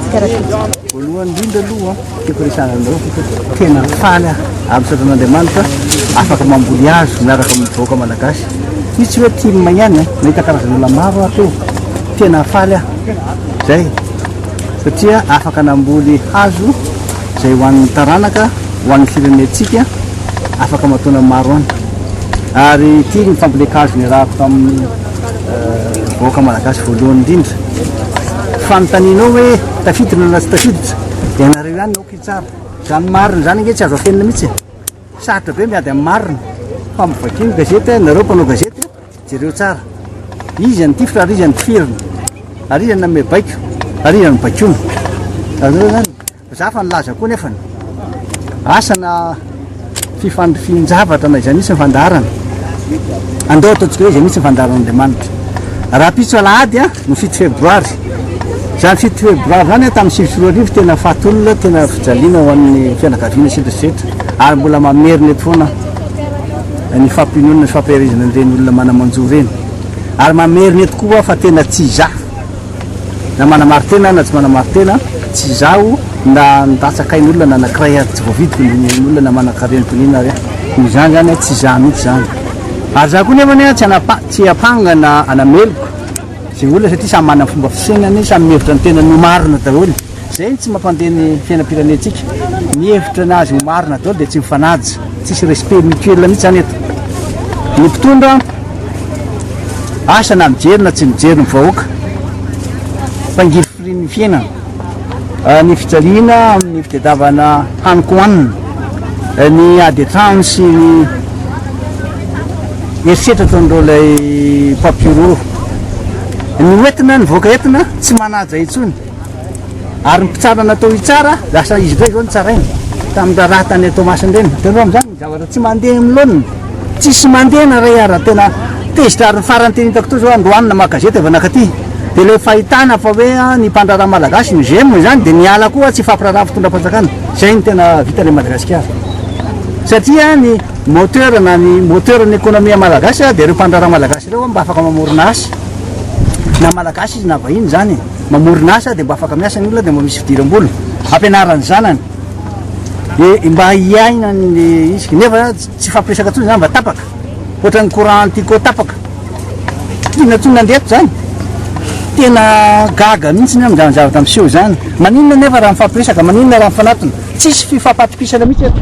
Voalohany indrindra aloha tiako resahana anareo tena faly aho amin'ny sotran'Andriamanitra afaka mamboly hazo miaraka amin'ny vahoaka malagasy io tsy hoe tim ihany nahita karazan'olona maro aho teo tena faly aho zay satria afaka namboly hazo zay ho an'ny taranaka ho an'ny firenentsika afaka mataona maro any ary ity ny fambolen-kazo niarahako tamin'ny vahoaka malagasy voalohany indrindra, fanontaniana ao hoe tafiditra na tsy tafiditra, ianareo ihany aoka hitsara. Izany marina izany ange tsy azo afenina mihitsy e. Sarotra be miady amin'ny marina. Fa mivakio ny gazety, ianareo mpanao gazety, jereo tsara. Izy an'ny tifitra ary izy an'ny tifirina. Ary izy an'ny nanome baiko, ary izy an'ny baikoina. Azonareo izany? Za efa nilaza koa nefa ny asa na fifandrifian-javatra na izay misy ny fandaharana. Andao ataontsika hoe izay misy ny fandaharan'Andriamanitra. Rahampitso alahady a, ny fito febroary. Izany fito febroary izany a, tamin'ny sivy sy roa arivo tena fatin'olona, tena fijaliana ho an'ny fianakaviana sy ny rehetra. Ary mbola mamerina eto foana ny fampiononana sy fampiherezana an'ireny olona mana-manjo ireny. Ary mamerina eto koa fa tena tsy iza Na manamari-tena na tsy manamari-tena, tsy izaho na nilatsaka ain'olona na anankiray ary tsy voavidiko ny ain'olona na manan-karena toy ny inona ary aho. Noho izany izany, tsy izaho mihitsy izany. Ary izaho koa nefa tsy hanapa, tsy hampanga na hanameloka izay olona satria samy manana ny fomba fisainany, samy mihevitra ny tenany ho marina daholo. Zay no tsy mampandeha ny fiainam-pirenentsika. Ny hevitra ny azy ho marina daholo dia tsy mifanaja. Tsisy respect mutuel mihitsy zany eto. Ny mpitondra asa na mijery na tsy mijery ny vahoaka fa ngirifirin'ny fiainana. Ny fijaliana amin'ny fitadiavana haniko hanina. Ny ady an-trano sy ny herisetra ataon'ireo ilay mpampihorohoro. Ny ho entina, ny vahoaka entina tsy manaja intsony. Ary ny mpitsara natao hitsara, lasa izy indray izao nitsaraina tamin'ny raharaha tany an-Toamasina ireny. Hitanao amin'izany ny zavatra tsy mandeha amin'ny laoniny. Tsisy mandeha na iray ary tena tezitra. Ary ny farany tena hitako teo izao, androany namaky gazety avy nankaty, dia ilay fahitana fa hoe ny mpandraharaha malagasy no j'aime izany dia niala koa tsy hifampiraharaha amin'ny fitondram-panjakana. Izay no tena vitan'ilay Madagasikara. Satria ny moteur na ny moteur'n'ny ekonomia malagasy dia ireo mpandraharaha malagasy ireo mba afaka mamorona asa. Na malagasy izy na vahiny izany e. mamorona asa dia mba afaka miasa ny olona dia mba misy fidiram-bola hampianarany zanany dia mba hiaina ny isika nefa tsy fampiresaka tsony zany mba tapaka ohatran'ny courant antico tapaka tiana tsony nandeha zany tena gaga mihitsy ny amin'izany zavatra miseho izany maninona nefa raha mifampiresaka maninona raha mifanatona tsisy fifampatopisana mihitsy eto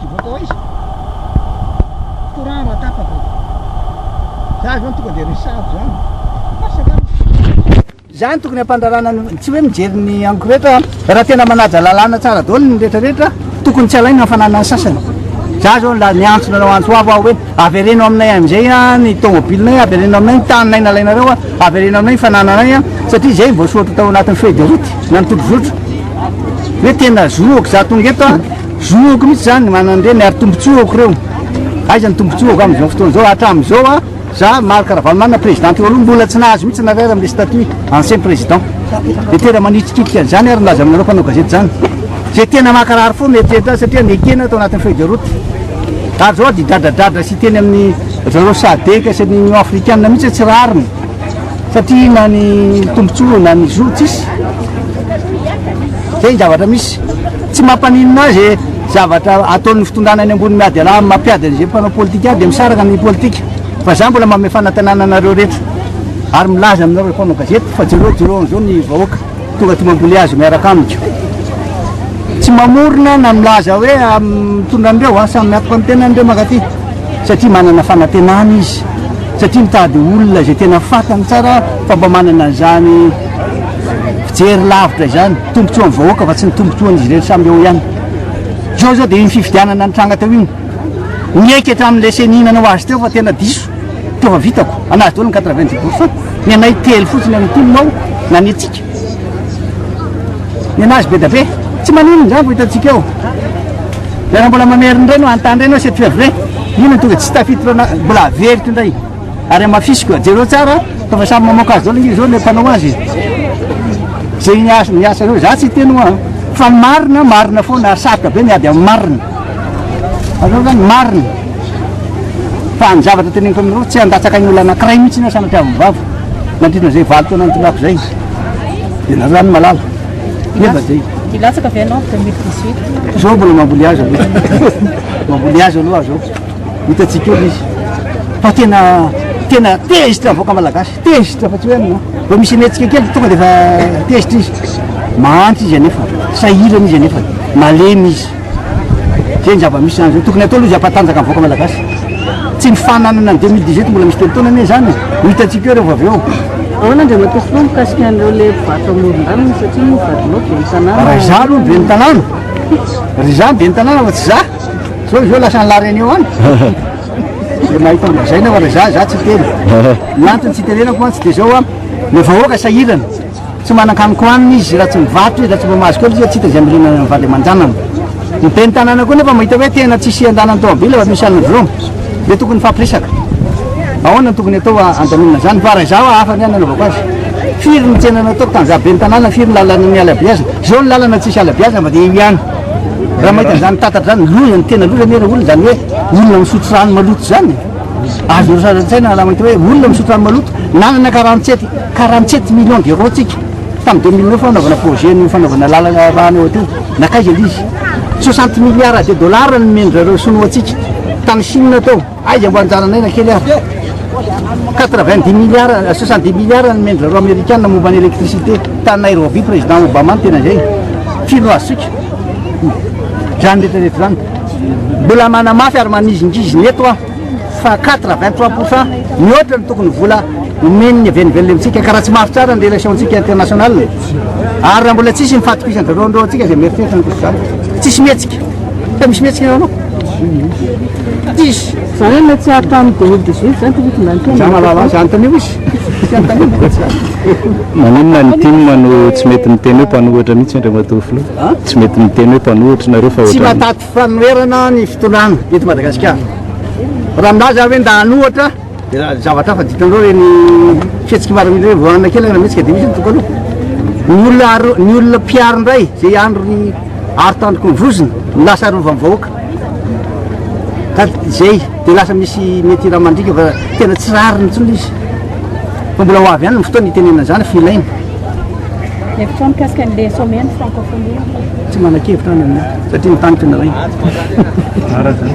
Hivoaka ao izy. Courant raha tapaka. Za zany tonga dia resahako zany. Asa zany. Zany tokony ampandarana ny tsy hoe mijery ny anko rehetra raha tena manaja lalàna tsara daholo ny rehetra rehetra tokony tsy alaina hafanana ny sasany. Za zao la niantso nareo antso avo aho hoe avereno aminay amin'izay ny tomobilinay, avereno aminay ny taninay nalainareo, avereno aminay ny fanananay satria izay voasoratra tao anatin'ny feuille de route na ny tobizotro. Hoe tena zoako za tonga eto Zoako mihitsy zany ny mananireny ary tombotsoako reo. Aiza ny tombotsoako amin'izao fotoana izao hatramin'izao a za Marc Ravalomanana président teo aloha mbola tsy nahazo mihitsy nareo ary le statut ancien président. Dia tena manitrikitrika an'izany ary nilaza aminareo mpanao gazety izany. Izay tena makarary fo no eritreritra azy satria nekena tao anatin'ny feuille de route. Ary zao dia dradradradra sy teny amin'ny zareo sadec sy ny Union Africaine mihitsy tsy rariny satria na ny tombotsoa na ny zo tsisy. Zay ny zavatra misy. Tsy mampaninona ahy izay zavatra ataon'ny fitondrana any ambony miady alaha amin'ny mampiady an'izay mpanao politika ahy dia misaraka ny politika fa izaho mbola manome fanatenana anareo rehetra ary milaza aminareo mpanao gazety fa jereo jereo an'izao ny vahoaka tonga aty mambolia azy miaraka amiko tsy mamorona na milaza hoe mitondra an'ireo a samy miatoka amin'ny tenan'ireo mankaty satria manana fanatenana izy satria mitady olona izay tena fatany tsara fa mba manana an'izany fijery lavitra izany Tombotsoan'ny vahoaka fa tsy ny tombotsoan'izy ireny samy eo ihany. Izao izao dia iny fifidianana nitranga teo iny. Nieky hatramin'ilay ceni nanao azy teo fa tena diso. Teo fa vitako. Anazy daholo ny 90 pourcent. Ny anay telo fotsiny amin'ny tim ao nanetsika. Ny anazy be da be. Tsy manino izany fa hitantsika eo. Dia raha mbola mamerina indray no hanontany indray ianao c'est vrai. Inona no tonga tsy tafiditra na- mbola averiko indray. Ary hamafisiko a, jereo tsara fa efa samy mamoaka azy daholo ange zao le mpanao azy e. Ze niasa niasa reo za tsy hiteny hoa fa ny marina marina foana ary sarotra be miady amin'ny marina. Azonao zany marina. Fa ny zavatra teneniko aminareo tsy handatsaka ny olona anakiray mihitsy na sanatria avy vavy nandritra zay valo taona nitondràko zay. Dia nareo zany malala. Nefa zay. Hilatsaka avy ianao 2018. Zao mbola mamboly azy aloha. Mamboly azy aloha zao. Hitantsika eo izy fa tena tena tezitra avoaka malagasy tezitra fa tsy hoe aminao vao misy anetsika kely tonga dia fa tezitra izy mahantra izy anefa sahirana izy anefa malemy izy zay ny zava-misy zany zao tokony atao aloha izy ampatanjaka avoaka malagasy tsy ny fananana ny 2018 mbola misy telo taona anie zany ho hitantsika eo rehefa avy eo ahoana dia matoky foa mikasika an'ireo le vato amoron-dalana satria vadinao be ny tanàna raha izaho aloha be ny tanàna ry izaho be ny tanàna fa tsy izaho Zao izy eo lasan'ny la reunion any. Dia mahita an'i Razaina aho, Raza, za tsy hiteny. Ny antony tsy hitenenako mantsy dia izao an, ny vahoaka sahirana. Tsy manan-kanina hohanina izy raha tsy mivarotra izy, raha tsy mba mahazo kely izy tsy hita izay hamiriana ny vady aman-janany. Ny ben'ny tanàna koa nefa mahita hoe tena tsy hisy andanan'ny taobila efa misy an'ny Jrom. Dia tokony hifampiresaka. Ahoana no tokony hatao handaminana izany? Fa raha izaho hafa ny ahy no hanaovako azy. Firy ny tsena nataoko tamin'izaho ben'ny tanàna, firy ny lalana niala-beazina. Izao ny lalana tsisy ala-beazina fa dia io ihany. Raha mahita an'izany tatatra izany, loza ny tena loza anie ilay olona, izany hoe olona misotro rano maloto izany. Azonareo sary an-tsaina ny halaman'ity hoe olona misotro rano maloto, nanana quarante sept, quarante sept millions d'euros isika tamin'ny deux mille neuf hanaovana projet ny fanaovana lalana rano eo teo, nankaiza ilay izy? Soixante milliards de dollars no nomen-dry zareo sinoa antsika tany Chine tao. Aiza mbo anjaranay na kely ary? 90 milliards, 70 milliards ny mendry zareo Amerikana momba ny électricité ta Nairobi président Obama no tena izay. Fino azotsika. Zany retraretra zany. Mbola manamafy ary manizingizina eto aho fa 83 pourcent mihoatra ny tokony vola omen'ny avenivelona amintsika ka raha tsy mafy tsara ny relationtsika international ary raha mbola tsisy mifatokisany zareo andrao antsika izay mieritreritra ny kosa zany tsisy mihetsika fa misy mihetsika eo anao Za hoe mety tsy hahatramin'ny deux mille dix huit zany ty hitondrany Za fiainana mahalala azy, anontanio izy, tsy anontanio mbola tsy ampy. Maninona ny tim no tsy mety miteny hoe mpanohitra mihitsy Andriamatoa Filoha? Tsy mety miteny hoe mpanohitra nareo fa Tsy ohatran'ny. mahataty fanoherana ny fitondrana eto Madagasikara. Raha milaza aho hoe ndahanohitra. Dia zavatra hafa, dikan'ireo ireny fihetsiky miaramila ireny, voahanina kely any Rahametsika dia misy ny tokana io. Ny olona aro, ny olona mpiaro indray izay andro ny aro tandroky ny vozona no lasa arovan'ny vahoaka. Ka izay dia lasa misy mety raha mandriaka fa tena tsy rariny intsony izy. Fa mbola ho avy ihany ny fotoana hitenenana izany fa ilaina. Hevitro mikasika an'ilay sommet ny francophonie. Tsy manan-kevitra any aminay satria ny tany tena rainy. Ara izany.